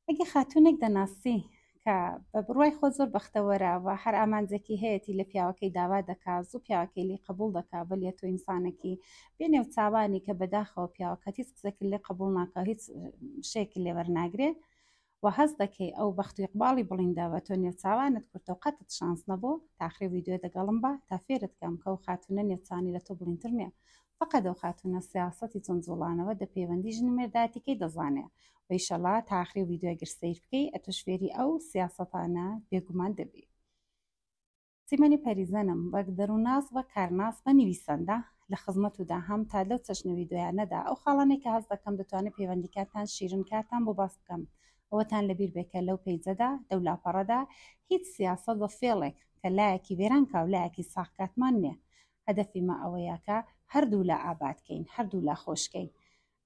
ئەگەر خاتوونێک دەناسی کە بە بڕوای خۆ زۆر بەختەوەرە و هەر ئامانجێکی هەیەتی لە پیاوەکەی داوا دەکا زوو پیاوەکەی لی قبوڵ دەکا بەلیە تۆ ئینسانەکی بێ نێو چاوانی کە بەداخەوە پیاوەکەت هیچ قسەکە لێ قبوڵ ناکە هیچ شێکی لێ وەرناگرێ و هەز دەکەی ئەو بەخت و یقباڵی بڵینداوە تۆ نێو چاوانت کورتە و قەتت شانس نەبوو تاخری ویددیو دەگەڵم بە تا فێرت کەم کە و خاتونە نێوچانی لە تۆ بڵینتر نیە فەقەت ئەو خاتوونە سیاسەتی چەند جوڵانەوە دە پەیوەندی ژن و مێرداتیکەی دەزانێ و ئیشەڵا تا ئاخری ڤیدیۆ گەر سەیر بکەی ئەتوش فێری ئەو سیاسەتانە بێگومان دەبی سیمەنی پەریزەنم وەک دەرووناس وەک کارناس بە نویسەندە لە خزمەت و داهام تا لەو چەشنە ڤیدیۆیانەدا ئەو خاڵانێک کە هەست دەکەم دەتوانێت پەیوەندیکاتان شیرن کاتان بۆ باس بکەم ئەوەتان لەبیر بێکە لەو پەیجەدا لەو لاپەڕەدا هیچ سیاسەت بە فێڵێک کە لایەکی وێران کاولایەکی ساخکاتمان نییە هەدەفی مە ئەوەیە کە هەردوولا ئاباد کەین، هەردوولا خۆش کەین.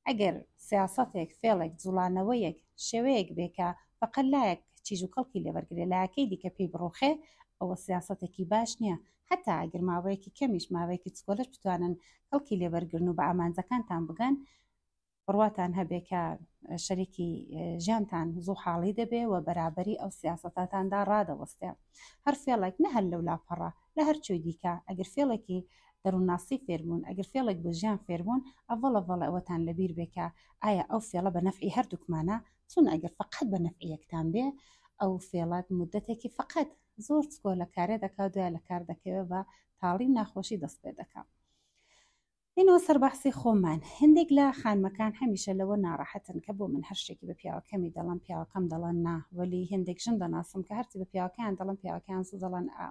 ئەگەر سیاسەتێک، فێڵێک، جووڵانەوەیەک، شێوەیەک بێ کە فەقەت لایەک چیژ و کەڵکی لێ وەرگرێ، لایەکەی دیکە پێی بڕووخێ، ئەوە سیاسەتێکی باش نییە. هەتا ئەگەر ماوەیەکی کەمیش، ماوەیەکی چکۆلەش بتوانن کەڵکی لێ وەرگرن و بە ئامانجەکانتان بگەن، بڕواتان هەبێ کە شەریکی ژیانتان زوو حاڵی دەبێ و بەرابەری ئەو سیاستاتاندا ڕادەوەستێ هەر فێڵێک نە هەر لەو لاپەڕە لە هەرچوی دیکە ئەگەر فێڵێکی دەروونناسی فێربوون ئەگەر فێڵێک بۆ ژیان فێربوون ئەڤڵە ڤڵە ئەوەتان لەبیر بێکە ئایا ئەو فێڵە بە نەفعی هەردووکمانە چون ئەگەر فقط بە نەفعیەکتان بێ ئەو فێڵات مدەتێکی فقط زۆر چکۆ لە کارێ دەکات دوای لە کار دەکەوێت بە تاڵی ناخۆشی دەست پێ دەکات ئینۆ سەر بەحسی خۆمان هەندێک لە خانمەکان هەمیشە لەوە ناڕەحەتن کە بۆ من هەر شتێکی بە پیاوە کەمی دەڵم پیاوەکەم دەڵن نا وەلی هەندێک ژن دەناسم کە هەرچی بە پیاوەکەیان دەڵم پیاوەکەیان زوو دەڵن ئا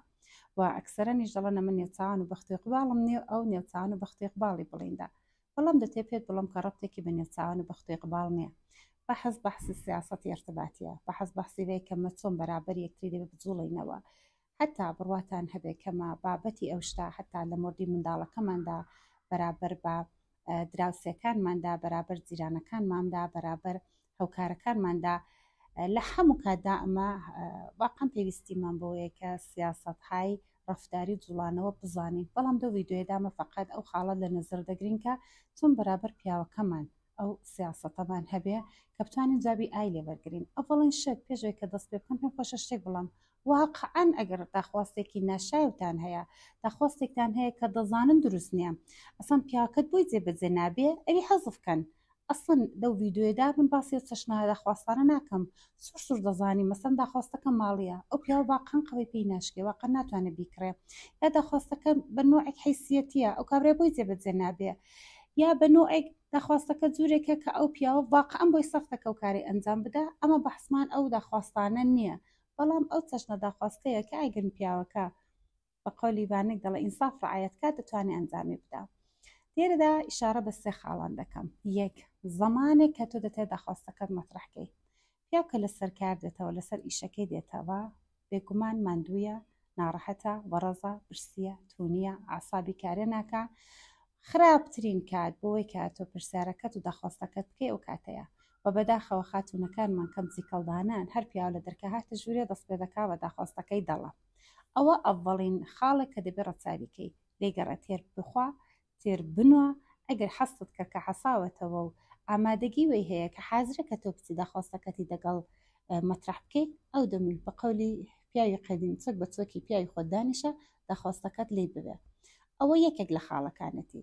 و ئەکسەرەنیش دەڵن ئەمە نێوچوان و بەختی قباڵم نیە و ئەو نێوچوان و بەختی قباڵی بڵیندا بەڵام دەتێ پێت بڵم کە ڕەبتێکی بە نێوچوان و بەختی قباڵ نییە بەحەز بەحسی سیاسەتی ارتباطیە بەحەز بەحسی بێ کە مە چۆن بەرابەر یەکتری دەبێ بجوڵێینەوە هەتا بڕواتان هەبێ کە مە بابەتی ئەو شتە هەتا لە مۆردی منداڵەکەماندا بەرابەر بە دراوسێکانماندا بەرابەر جیرانەکانماندا بەرابەر هەوکارەکانماندا لە هەموو کاتدا ئەمە واقعم پێویستیمان بۆیە کە سیاست های ڕفتاری و جوڵانەوە بزانین بەڵام دو ویددیۆدامە فقط ئەو خاڵە لە نظر دەگرین کە چون بەرابەر پیاوەکەمان ئەو سیاستەمان هەبێ کە بتوانین جابی ئای لێ بەرگرین ئەوڵین شت پێشێک کە دەست پێ بکەم پێم خۆشە شتێک بڵام واقعەن ئەگەر داخواستێکی ناشایەوتان هەیە داخواستێکتان هەیە کە دەزانن دروست نیە ئەسڵەن پیاوەکەت بۆی جێبەجێ نابێ ئەوی حەزف کەن ئەسڵەن لەو ڤیدیۆیەدا من باسی ئەو چەشنە داخواستانە ناکەم سوور سوور دەزانی مەسەن داخواستەکە ماڵیە ئەو پیاوە واقعەن قەوەی پێی ناشکێ واقعەن ناتوانێ بیکڕێ یا داخواستەکە بە نۆعێک حەیسیەتیە ئەو کابرای بۆی جێبەجێ نابێ یا بە نۆعێک داخواستەکە جوورێکە کە ئەو پیاوە واقعەن بۆی سەختەکە و کارەی ئەنجام بدا ئەمە بەحسمان ئەو داخواستانە نییە بەڵام ئەو چەشنە داخوازکەیە کە ئەگەر پیاوەکە بە قەولی بانک دەڵێ ئینساف ڕعایەت کا دەتوانێ ئەنجامی بدا لێرەدا ئیشارە بە سێ خاڵان دەکەم یەک زەمانێک کە تۆ دەتێ داخواستەکەت مەترحکەی پیاو کە لەسەر کار دێتەوە لەسەر ئیشەکەی دێتەوە بێگومان ماندوویە ناڕەحەتە وەڕەزە برسیە تونیە ئاسابی کارێ ناکە خراپترین کات بۆی کاتۆ پرسیارەکەت و داخواستەکەت بکەی ئەو کاتەیە و بەداخەوە خاتوونەکانمان کەم زیکەڵدانەن هەر پیاو لە دەرکەهاتە ژوورێ دەست پێ دەکا بە داخوازتەکەی دەڵە ئەوە ئەڤەڵین خاڵێک کە دەبێ ڕەچاوی کەی دەیگەڕێ تێر بخوا تێر بنوا ئەگەر حەستت کە کە حەساوەتەوە و ئامادەگی وەی هەیە کە حازرە کە تۆ بچی داخوازتەکەتی دەگەڵ مەترح بکەی ئەو دەمی بە قەولی پیاوی قەدیم چەک بە چۆکی پیاوی خۆت دانیشە داخوازتەکەت لی ببێ ئەوە یەکێک لە خاڵەکانەتی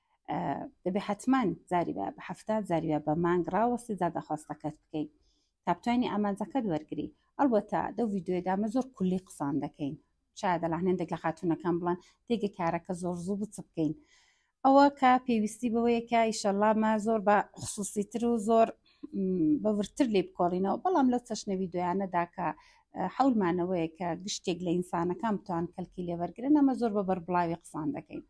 دەبێ حتمما زاری بە هەفتا زاریە بە مانگ ڕاوەستی زادەخواستەکەت بکەین تا بتوانانی ئامانجەکەت وەرگری ئەڵبەتە دەو یددیوێدامە زۆر کولی قسان دەکەین شاید دەلاهێندێک لە خاتونەکان بڵان تێگە کارەکە زۆر زوو بچ بکەین ئەوە کە پێویستی بەوەیەکە ئیشەلامە زۆر بە خصوصی تر و زۆر بەورتر لێ بکۆڵینەوە بەڵام لەو چەشنەوی دویانەدا کە حولمانەوەیە کە گشتێک لە ئینسانەکان بتوان کەلکی لێوەرگن ئەمە زۆر بە بەربڵاوی قسان دەکەین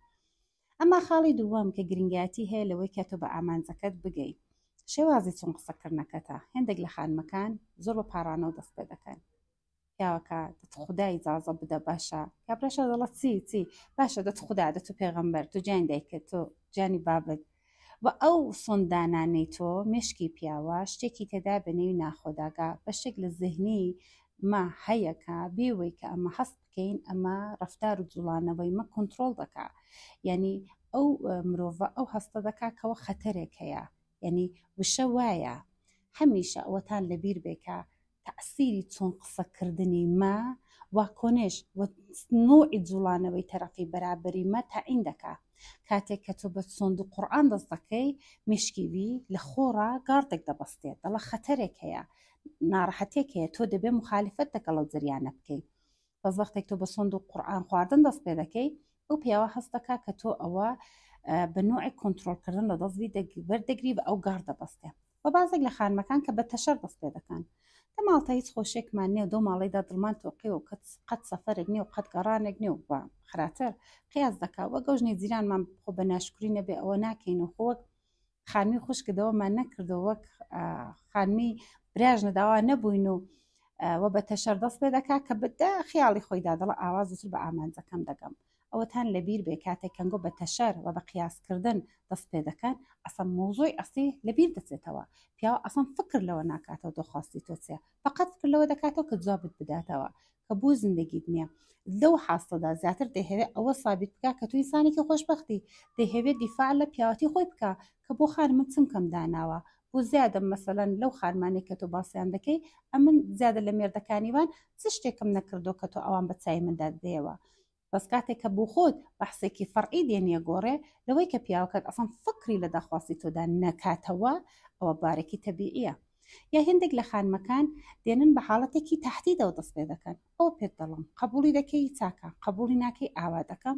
ئەما خاڵی دووەم کە گرنگایەتی هەیە لەوەی کە تۆ بە ئامانجەکەت بگەیت شێوازی چون قسەکردنەکەتە هێندێک لە خانمەکان زۆر بە پاڕانەوە دەست پێ دەکەن پیاوەکە دەت خوددا ئیجازە بدە باشە کابراشە دەڵە چی چی باشە دەت خوددا دەت و پێغەمبەر تو جیان دایکە تۆ جانی بابت و ئەو سۆندانانەی تۆ مشکی پیاوە شتێکی تێدا بە نێوی ناخۆداگا بە شێک لە زهنی ما هەیەکە بێوەی کە ئەمە هەست بکەین ئەمە ڕفتار و جوڵانەوەی مە کۆنتترۆل دەکا یعنی ئەو مرۆڤە ئەو هەستە دەکا کەەوە خەتەرێک هەیە یعنی وشە وایە هەمیشە ئەوەتان لەبیر بێکە تەسیری چۆن قسەکردنی مە واکۆنێش نوعی جوڵانەوەی تەرەقی بەرابری مە تاعین دەکا کاتێک کە تۆ بە سۆند و قورآن دەست دەکەی مشکی وی لە خۆڕا گاڕتێک دەبەستێت دەڵە خەتەرێک هەیە ناڕەحەتێک هەیە تۆ دەبێ مخالفەت دەکەڵ و زریانە بکەیت بەس وەختێک تۆ بە سۆند و قورآان خواردن دەست پێ دەکەی ئەو پیاوە هەست دەکا کە تۆ ئەوە بە نوعی کۆنتترۆلکردن لە دەستوی بەردەگری بە ئەو گاڕ دەبەستێ و بازێک لە خانمەکان کە بە تەشەر دەست پێ دەکەن. دە ماڵتە هیچ خۆشیەکمان نیە و دەو ماڵەیدا دڵمان تۆقیوە و قەت سەفەرێک نیە و قەت گەڕانێک نیە و خراتر قیاس دەکا وەک ئەو ژنی جیرانمان خۆ بە ناشکری نەبێ ئەوە ناکەین و خۆ وەک خانمی خوشکە دەوەمان نەکردو وەک خانمی براژنە داوا نەبووین و و بە تەشەر دەست پێ دەکا کە بدە خیاڵی خۆیدا دەڵە ئاوا زووتر بە ئامانجەکەم دەگەم ئەوەتان لەبیر بێ کاتێ کەنگۆ بە تەشەر وە بە قیاس کردن دەست پێ دەکەن ئەسڵەن مەوزوعی ئەسڵی لەبیر دەچێتەوە پیاو ئەسڵەن فکر لەوە ناکاتەوە تۆ خواستی تۆ چیە فەقەت فکر لەوە دەکاتەوە کە جوابت بداتەوە کە بۆ زندگیت نیە لەو حاستەدا زیاتر دەیهەوێ ئەوە سابیت بکە کە تو ئینسانێکی خۆشبەختی دەیهەوێ دیفاع لە پیاوەتی خۆی بکە کە بۆ خان من چم کەم داناوە بۆ زیادە مەسەلەن لەو خانمانێک کە تۆ باسیان دەکەی ئەمن زیادە لە مێردەکانیوان چ شتێکم نەکردو کە تۆ ئەوان بە چای من دادەیەوە بەس کاتێک کە بۆ خۆت بەحسێکی فەرعی دێنیە گۆڕێ لەوەی کە پیاوەکەت ئەسڵەن فکری لە داخواستی تۆدا نەکاتەوە ئەوە بارێکی تەبیعیە یا هێندێک لە خانمەکان دێنن بە حاڵەتێکی تهدیدەوە دەست پێ دەکەن ئەوە پێت دەڵم قبوڵی دەکەی چاکە قبوڵی ناکەی ئاوا دەکەم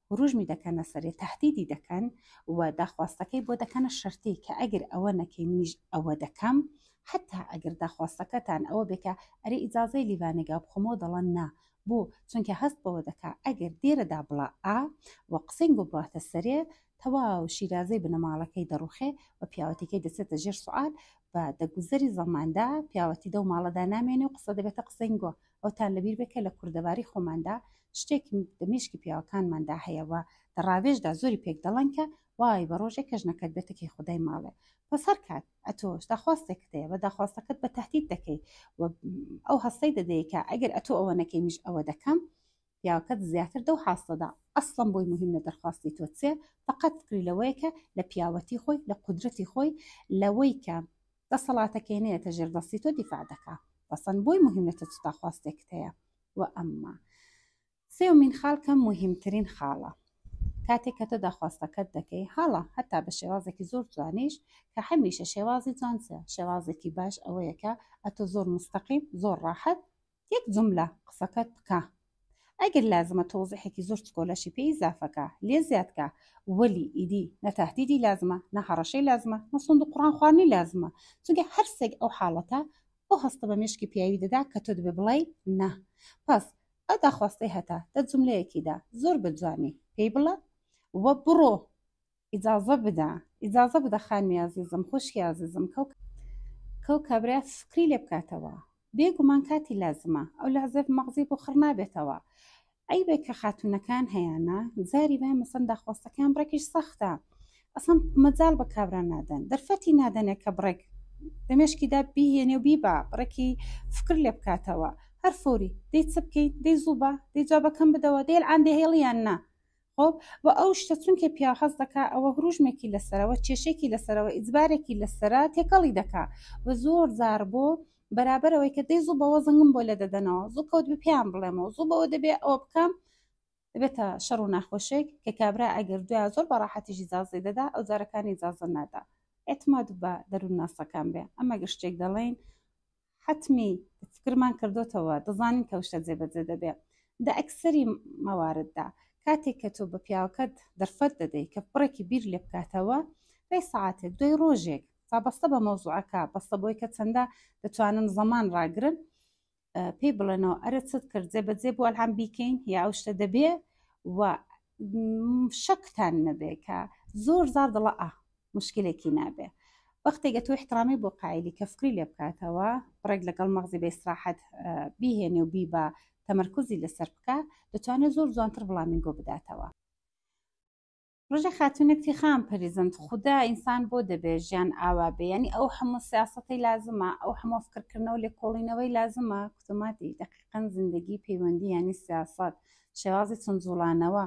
هروژمی دەکەنە سەرێ تەهدیدی دەکەن و داخواستەکەی بۆ دەکەنە شەرتی کە ئەگەر ئەوە نەکەی منیش ئەوە دەکەم حەتا ئەگەر داخواستەکەتان ئەوە بێ کە ئەرێ ئیجازەی لیڤانێگا بخۆمەوە دەڵەن نا بۆ چونکە هەست بەوە دەکا ئەگەر دێرە دابڵا ئا و قسەین بۆ بڕاتە سەرێ تەواو شیرازەی بنەماڵەکەی دەڕوخێ و پیاوەتیکەی دەچێتە ژێر سوعال و دەگوزەری زەماندا پیاوەتی دەو ماڵەدا نامێنێ و قسە دەبێتە قسەینگۆ ئەوتان لەبیر بێ کە لە کوردەواری خۆماندا شتێک دە مێشکی پیاوەکانماندا هەیە و دە ڕاوێژدا زۆری پێک دەڵێن کە وای بە ڕۆژێ کە ژنەکەت بێتە کەی خودای ماڵێ بەس هەر کات ئەتۆش داخواستێکت هەیە بە داخواستەکەت بە تهدید دەکەی و ئەو هەستەی دەدەیە کە ئەگەر ئەتۆ ئەوە نەکەی میش ئەوە دەکەم پیاوەکەت زیاتر دەو حاستەدا ئەسڵەن بۆی موهیم نە دەرخواستی تۆ چێ فەقەت فکری لەوەیە کە لە پیاوەتی خۆی لە قودرەتی خۆی لەوەی کە دەسەڵاتەکەی نەیەتە ژێر دەستی تۆ دیفاع دەکا ئەسڵەن بۆی موهیم نە تۆ چ داخواستێکت هەیە و ئەمما سێومین خاڵ کە موهیمترین خاڵە کاتێک کە تۆ داخواستەکەت دەکەی هەڵە هەتا بە شێوازێکی زۆر جوانیش کە هەمیشە شێوازی جوانچە شێوازێکی باش ئەوەیەکە ئەتۆ زۆر مستەقیم زۆر ڕاحەت یەک جوملە قسەکەت بکە ئەگەر لازمە تەوزیحێکی زۆر چکۆلەشی پێ ئیزافەکە لێ زیادکە وەلی ئیدی نە تەهدیدی لازمە نە هەڕەشەی لازمە نە سوند و قڕان خواردنی لازمە چونکە هەر سێک ئەو حاڵەتە ئەو هەستە بە مێشکی پیاوی دەدا کە تۆ دەبێ بڵێی نا پس ئەو داخواستەی هەتا دە جوملەیەکیدا زۆر بە جوانی پێی بڵە وە بڕۆ ئیجازە بدە ئیجازە بدە خانمی ئازیزم خوشکی ئازیزم کەو کەو کابرا فکری لێ بکاتەوە بێگومان کاتی لازمە ئەو لە عزێف مەغزی بۆ خڕ نابێتەوە ئەی بێ کە خاتونەکان هەیەە زاری بە مەسەن داخواستەکان ڕێکیش سەختە ئەسم مەجال بە کابرا نادەن دەرفەتی نادەنێت کە بڕێک دەمێشکیدا بیهێنێ و بیبا بڕێکی فکر لێ بکاتەوە هەر فۆری دەی چ بکەیت دەی زوو بە دەی جوابەکەم بدەوە دەیل ئاندێ هێڵیان نا خۆب وە ئەو شتە چونکێ پیاو حەز دەکا ئەوە هروژمێکی لەسەرە وە کێشێکی لەسەرە وە ئیجبارێکی لەسەرە تێکەڵی دەکا وە زۆر جار بۆ بەرابەر ئەوەی کە دەی زوو بەوە زنگم بۆ لێدەدەنەوە زوو کەوت بە پێیان بڵێمەوە زوو بەوە دەبێ ئەوە بکەم دەبێتە شەڕ و ناخۆشێک کە کابرا ئەگەر دوای زۆر بەڕاحەتیش ئیجازەی دەدا ئەو جارەکانی ئیجازە نادا اعتماد بە دەروونناسەکان بێ ئەمە گەر شتێک دەڵێین حەتمی فکرمان کردۆتەوە دەزانین کە ئەو شتە جێبەجێ دەبێ دە ئەکسەری مەوارددا کاتێک کە تۆ بە پیاوەکەت دەرفەت دەدەیت کە پڕێکی بیر لێ بکاتەوە دوای سعاتێک دوای ڕۆژێک فابەستە بە مەوزوعەکە بەستە بۆی کە چەندە دەتوانن زەمان ڕاگرن پێی بڵێنەوە ئەرە چت کرد جێ بەجێ بۆ ئەلهام بیکەین یا ئەو شتە دەبێ و شەکتان نەبێ کە زۆر زار دڵە ئا مشکلێکی نابێ وەختێکگە تۆ احترامی بۆ قایلی کە فکری لێ بکاتەوە ڕێک لەگەڵ مەغزی بێستراحەت بیهێنێ و بیبا تەمەرکزی لەسەر بکە دەتوانێت زۆر جوانتر بڵامی گۆ بداتەوە ڕژە خاتونەکتی خام پەریزند خوددا ئینسان بۆ دەبێ ژیان ئاوا بێیانی ئەو هەموو سیاستەی لازمە ئەو هەموو فکرکردنەوە لێکۆڵینەوەی لازمە کوتوماتی دەقیقەن زیندگی پەیوەندی ینی سیاست شێوازی چون جوڵانەوە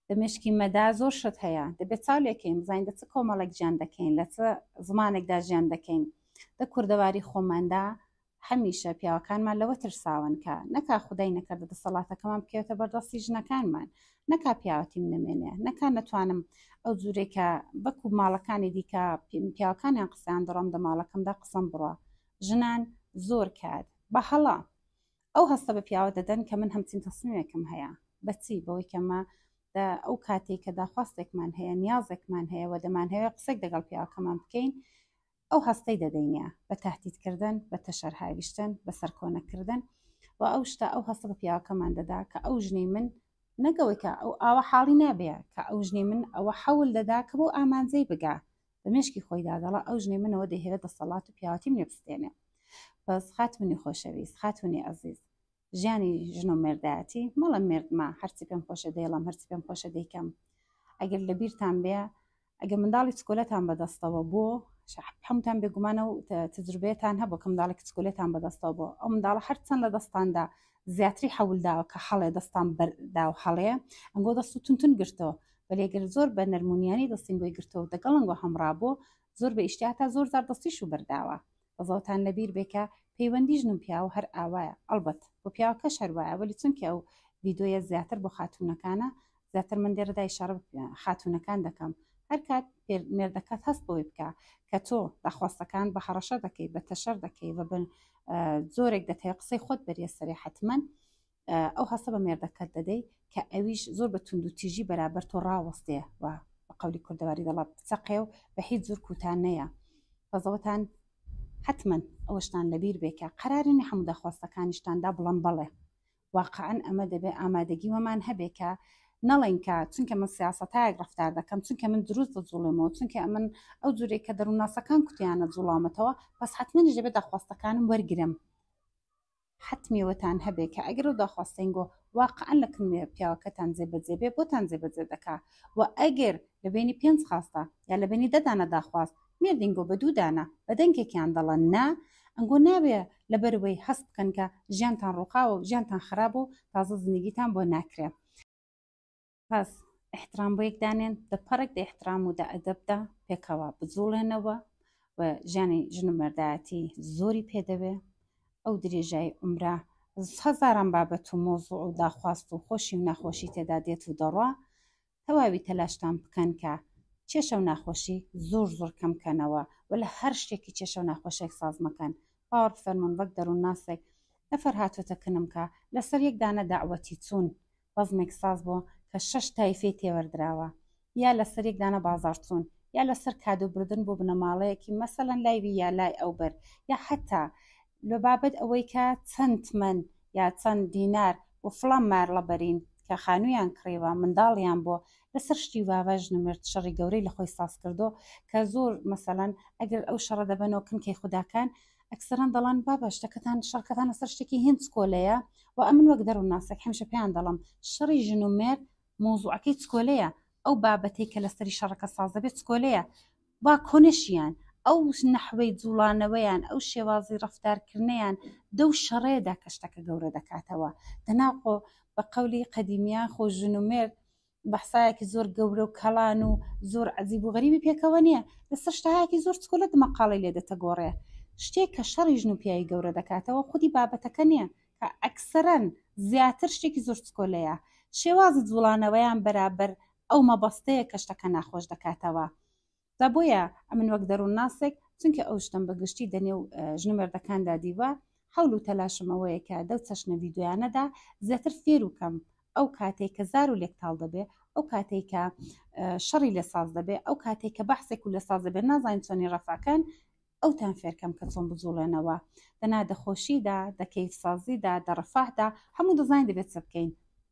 لە مێشکی مەدا زۆر شت هەیە دەبێت چاو لێکەین بزانین دە چ کۆمەڵێک ژیان دەکەین لە چ زمانێکدا ژیان دەکەین دە کوردەواری خۆماندا هەمیشە پیاوەکانمان لەوە ترساون کە نەکا خدای نەکردە دەسەڵاتەکەمان بکەوێتە بەردەستی ژنەکانمان نەکا پیاوەتیم نمێنێ نەکا نەتوانم ئەو جوورێکە بەکو ماڵەکانی دیکە پیاوەکانیان قسەیان دەڕۆم دە ماڵەکەمدا قسەم بڕە ژنان زۆر کات بە هەڵە ئەو هەستە بە پیاوە دەدەن کە من هەمچین تەسمیمێکم هەیە بەچی بەوەی کەمە ئەو کاتێک کە داخواستێکمان هەیە نیازێکمان هەیە و دەمان هەیە قسێک دەگەڵ پیاوەکەمان بکەین ئەو هەستەی دەدەینە بە تهدیدکردن بە تەشەر هاویشتن بە سەرکۆنەکردن و ئەو شتا ئەو هەستە بە پیاوەکەمان دەدا کە ئەو ژنی من نەگەوەی کە ئەو ئاوە حاڵی نابێ کە ئەو ژنی من ئەوە حەول دەدا کە بۆ ئامانجەی بگا بە مێشکی خۆیدا دەڵا ئەو ژنەی منەوە دەهێرە دەسەڵات و پیاوەتیم لێ بستێنێ بەس خاتونی خۆشەویست خاتونی ئەزیز ژیانی ژن و مێردایەتی مەڵە مردمە هەرچی پێم خۆشە دەیڵم هەرچی پێم خۆشە دەیکەم ئەگەر لە بیرتان بێ ئەگە منداڵی چکۆلەتان بەدەستەوە بۆ هەمتان بێگومانە و تجربێتان هەبوو کە منداڵی کچکولێتان بەدەستەوە بۆ ئەو منداڵە هەرچەند لە دەستاندا زیاتری حەولداوە کە هەڵێ دەستان بەردا و هەڵێ ئەنگۆ دەست و تونتون گرتەوە بەلێ گەر زۆر بە نەرمونیانی دەستین بۆی گرتەوە دەگەڵنگۆ هەمڕا بۆ زۆر بە ئیشتی هەتا زۆر زار دەستیش و بەرداوە بەزەوتان لەبیر بێ کە پەیوەندی ژن و پیاو هەر ئاوایە ئەڵبەت بۆ پیاوەکەش هەر وایە وەلی چونکە ئەو ڤیدۆیە زیاتر بۆ خاتونەکانە زیاتر من لێرەدا ئیشارە بە خاتونەکان دەکەم هەر کات مێردەکەت هەست بەوەی بکە کە تۆ داخواستەکان بە هەڕەشە دەکەی بە تەشەر دەکەی بە بن جۆرێک دەتەوێت قسەی خۆت بەریە سەرێ حتمما ئەو هەستە بە مێردەکەت دەدەی کە ئەویش زۆر بە تونند و تیژی بەرابەر تۆ ڕاوەستێ و بە قولی کوردەواری دەڵات بچەقێ و بە هیچ زور کوتان نەیە بەزەوەتان حتمما ئەوەشتان لەبیر بێ کە قەرارنی هەموو داخواستەکانیشتاندا بڵم بەڵێ واقعەن ئەمە دەبێ ئامادەگی وەمان هەبێ کە نەڵێن کە چونکە من سیاستایەک ڕفتار دەکەم چونکە من دروست دەجوڵێمەوە چونکە ئەمن ئەو جورێک کە دەروونناسەکان کوتیانە جوڵامەتەوە بەس حتممەنیش دەبێت داخواستەکانم وەرگرم حەتمی وەتان هەبێ کە ئەگەر ئەو داخواستەینگۆ واقعەن لە کن پیاوەکەتان جێ بەجێ بێ بۆتان جێ بەجێ دەکا و ئەگەر لە بەینی پێنج خاستە یا لە بەینی دە دانە داخواست مێردینگۆ بە دوو دانە بە دەنگێکیان دەڵە نا ئەنگۆ نابێ لە بەر وەی هەست بکەن کە ژیانتان ڕووخاوە و ژیانتان خرابە و تازە زندگیتان بۆ ناکرێ. پاس احترام بۆ یەک دانێن دە پەڕێک دە احترام و دە ئەدەبدا پێکەوە بجوڵێنەوە و ژیانی ژن و مەردایەتی زۆری پێدەوێ ئەو درێژای عمرە هەزاران بابەت و مۆزوع و داخواست و خۆشی و ناخۆشی تێدا دێت و دەڕوا تەواوی تەلاشتان بکەن کە کێشە و ناخۆشی زۆر زۆر کەمکەنەوە و لە هەر شتێکی کێشە و ناخۆشێک ساز مەکەن باوەڕ فەرمونون وەک دەروون ناسێک نەفەر هاتۆتە کنم کە لەسەر یەک دانە داوەتی چوون بەزمێک ساز بووە کە شەش تایفەی تێوەردراوە یا لەسەر یەک دانە بازاڕچوون یا لەسەر کادو بردن بۆ بنەماڵەیەکی مەسەلەن لای وی یا لای ئەو بەر یا حتا لە بابەت ئەوەی کە چەند تمەن یا چەند دینار بۆ فڵان مارڵە بەرین کە خانوویان کڕیوە منداڵیان بۆ لەسەر شتی واوە ژنمرد شەڕی گەورەی لە خۆی ساز کردو کە زۆر مەسەلەن ئەگەر ئەو شەڕە دەبەنەوە کن کەی خوداکان ئەکسەران دەڵان بابە شتەکەتان شەڕکەتان لەسەر شتێکی هێن چکۆلەیە و ئەمن وەک دەرو ناسێک هەمشە پێیان دەڵم شەڕی ژن و مێر مۆزوعەکەی چکۆلەیە ئەو بابەتەی کە لەسەری شەڕەکە ساز دەبێت چکۆلەیە با کۆنشیان ئەو نەحوەی جوڵانەوەیان ئەو شێوازی ڕفتارکردنیان دەو شەڕێدا کە شتەکە گەورە دەکاتەوە دەناقۆ بە قەولی قەدیمیان خۆ ژن و مێر بەحسایەکی زۆر گەورە و کەڵان و زۆر عەزیب و غەریبی پێکەوە نییە لەسەر شتەهایەکی زۆر چکۆلە دمەقاڵی لێ دەتەگۆڕێ شتێک کە شەڕی ژن و پیاوی گەورە دەکاتەوە خودی بابەتەکە نییە کە ئەکسەرەن زیاتر شتێکی زۆر چکۆلەیە شێوازی جوڵانەوەیان بەرابەر ئەو مەبەستەیە کە شتەکە ناخۆش دەکاتەوە جا بۆیە ئەمن وەک دەروونناسێک چونکە ئەو شتم بە گشتی دەنێ و ژن و مێردەکاندا دیوە حەول و تەلاشم ئەوەیە کە دەو چەشنە ڤیدیۆیانەدا زیاتر فێر و کەم ئەو کاتێک کە زار و لێکتاڵ دەبێ ئەو کاتێک کە شەڕی لە ساز دەبێ ئەو کاتێک کە بەحسێک و لە ساز دەبێت نازانین چۆنی ڕەفاکەن ئەوتان فێرکەم کە چۆن بجوڵێنەوە دەنا دەخۆشیدا دەکەیت سازیدا دەڕفاهدا هەموو دەزانین دەبێت چ بکەین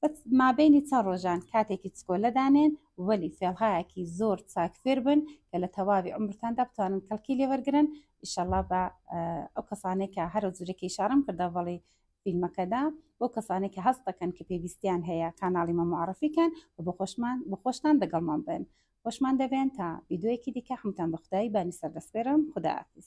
بە مابەینی چەند ڕۆژان کاتێکی چکۆلە دانێن وەلی فێڵهایەکی زۆر چاک فێر بن کە لە تەواوی عمرتاندا بتوانن کەڵکی لێوەرگن ئیشەڵا بە ئەو کەسانەی کە هەرە جورەکەی شارم کردە بەڵی فیلمەکەدا بۆ کەسانی کە هەست دەکەن کە پێویستیان هەیە کانناڵی مە معرفیکەن و بە خۆشمان بە خۆشتان دەگەڵمان بن خۆشمان دەبێن تا یددیوەیەکی دیکە حمتان بە خدای بانی سەردەسپێرم خداحافیز